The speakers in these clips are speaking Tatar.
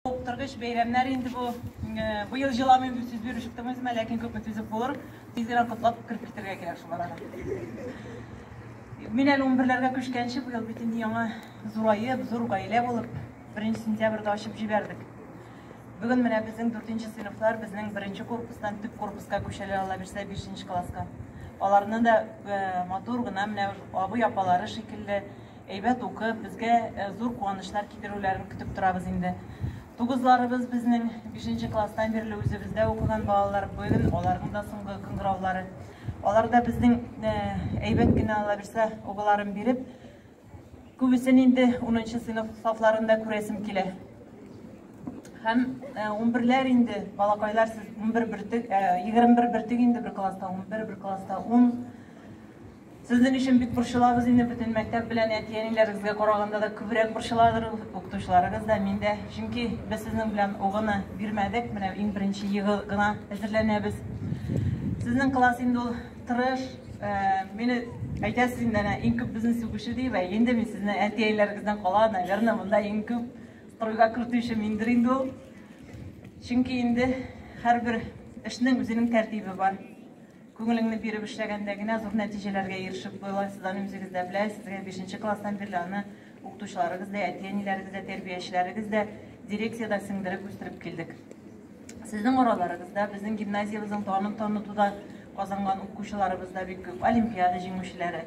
Уктыргыч бәйрәмнәр инде бу. Быел җыламыйм дип сүз биреп чыктым үземә, ләкин күпме түзеп булыр. Тиз генә котлап кереп китәргә кирәк шул арада. Мин әле унберләргә күчкәнче быел бит инде яңа зураеп, зур гаилә булып, беренче сентябрьдә ачып җибәрдек. Бүген менә безнең дүртенче сыйныфлар безнең беренче корпустан төп корпуска күчәләр, алла бирсә, бишенче класска. Аларны да матур гына менә абый апалары шикелле Әйбәт укып, безгә зур куанычлар китерүләрен көтеп торабыз инде. Тугызларыбыз безнең бишенче класстан бирле үзебездә укыган балалар, бүген аларның да соңгы кыңгыраулары. Аларда безнең э, әйбәт кенә ала бирсә угыларын биреп, күбесен инде 10 сыйныф сафларында күрәсем килә. Һәм 11ләр э, инде, балакайлар сез 11 бертек, 21 э, бертек инде бер класста, 11 бер класста 10 Сезнең өчен бик борчылабыз инде, бөтен мәктәп белән әти-әниләрегезгә караганда да күбрәк борчыладыр ул, укытучыларыгыз да, мин дә. Чөнки без сезнең белән угыны бирмәдек, менә иң беренче елы гына әзерләнәбез. Сезнең класс инде ул тырыш, мине әйтәсез инде әнә иң күп безне сүгүче диеп, ә инде мин сезне әти-әниләрегездән кала, наверное, монда иң күп кырыйга кертүче миндер инде ул. Чөнки инде һәрбер эшнең үзенең тәртибе бар. Күңелеңне биреп эшләгәндә генә зур нәтиҗәләргә ирешеп буйлайсыз, аны үзегез дә беләсез. Бишенче класстан бирле аны укытучыларыгыз да, әти-әниләрегез дә, тәрбиячеләрегез дә, дирекция дә сеңдереп үстереп килдек. Сезнең араларыгыз да, безнең гимназиябезнең данын танытуда казанган укучыларыбыз да бик күп, олимпиада җиңүчеләре.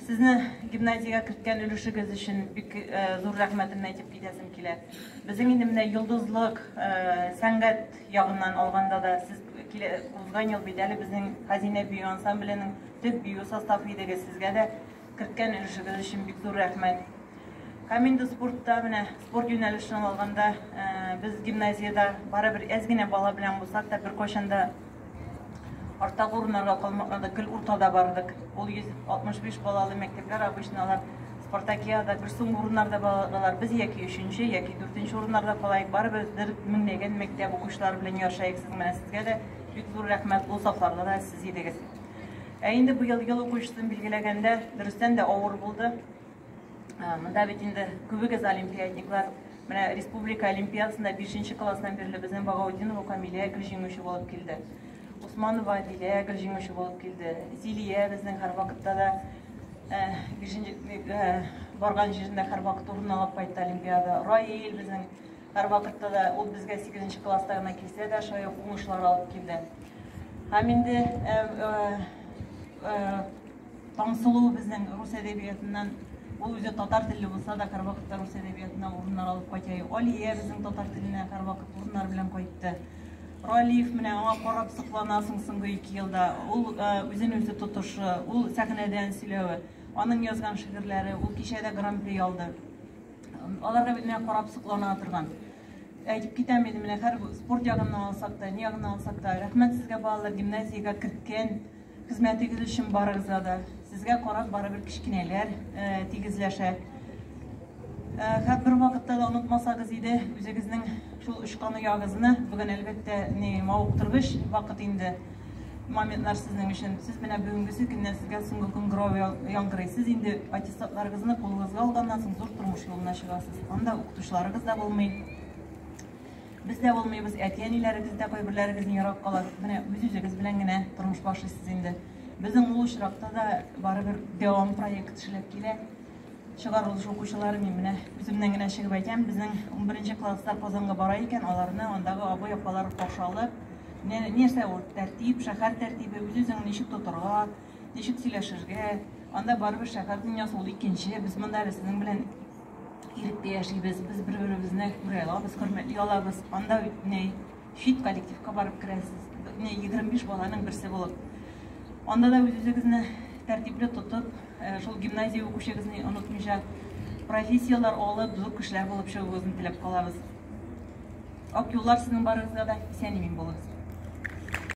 Сезне гимназиягә керткән өлешегез өчен бик зур рәхмәтемне әйтеп китәсем килә. Безнең инде менә йолдызлык, сәнгать ягыннан алганда да сез узган ел бит әле безнең Хәзинә бию ансамбленең төп бию составы идегез. Сезгә дә керткән өлешегез өчен бик зур рәхмәт. Һәм инде спортта менә спорт юнәлешен алганда, без гимназиядә барыбер әз генә бала белән булсак та беркайчан да Арттагы урыннарга калмакны да гел уртада бардык. Ул 165 балалы мәктәпләр обычно алар спартакиада бер сум урыннарда балалар. Без яки өченче, яки дүртенче урыннарда калайык. Барыбер бер меңләгән мәктәп укучылары белән ярышайык. Сез менә сезгә дә бик зур рәхмәт. Ул сафларда да сез идегез. Ә инде быел ел укучысын билгеләгәндә, дөрестән дә авыр булды. Ә, монда бит инде күбегез олимпиадниклар. Менә республика олимпиадасында 5 класстан бирле безнең Багаудинова Камилә гел җиңүче булып килде. Усманова Адилә гел җиңүче булып килде. Зилия безнең һәрвакытта да ә, ә, барган җирендә һәрвакыт урын алып кайтты олимпиада. Раил безнең һәрвакытта да ул безгә 8 класста гына килсә дә шулай уңышлар алып килде. Һәм инде Таңсылу безнең рус әдәбиятыннан, ул үзе татар телле булса да, һәрвакыт та рус әдәбиятыннан урыннар алып кайта. Алия безнең татар теленә һәрвакыт урыннар белән кайтты. Ралиев менә аңа карап сокланасың соңгы ике елда. Ул э, үзен үзе тотышы, ул сәхнәдән сөйләве, аның язган шигырьләре, ул кичәдә гран-при алды. Аларга бит менә карап соклана торган. Әйтеп китәм инде менә һәр спорт ягыннан алсак та, ни ягыннан алсак та, рәхмәт сезгә балалар, гимназиягә керткән Хезмәтегез өчен барыгызга да. Сезгә карап барыбер кечкенәләр тигезләшә. Хәт бер вакытта да онытмасагыз иде үзегезнең шул очкан оягызны. Бүген әлбәттә ни мавыктыргыч вакыт инде моментлар сезнең өчен. Сез менә бүгенгесе көннән сезгә соңгы көн гров яңгырый. Сез инде аттестатларыгызны кулыгызга алганнан соң зур тормыш юлына чыгасыз. Анда укытучыларыгыз да булмый. Без дә булмыйбыз, әти-әниләрегез дә кайберләрегезнең ерак кала. Менә үз-үзегез белән генә тормыш башлыйсыз инде. Безнең ул очракта да барыбер дәвам проект эшләп килә. Чыгарылыш укучылары мин менә үземнән генә чыгып әйтәм, безнең 11 класслар Казанга бара икән, аларны андагы абый-апалар каршы алып, нәрсә ул тәртип, шәһәр тәртибе, үз-үзеңне ничек тотарга, ничек сөйләшергә, анда барыбер шәһәр дөньясы ул икенче, без монда әле сезнең белән Иректә яшибез, без бер-беребезне күрә алабыз, хөрмәтли алабыз. Анда бит не хит коллективка барып керәсез. Не 25 баланың берсе булып. Анда да үзегезне тәртипле тотып, э, шул гимназия укучыгызны онытмыйча профессияләр алып, зур кешеләр булып чыгуыгызны теләп калабыз. Ак юллар сезнең барыгызга да исән-имин булыгыз.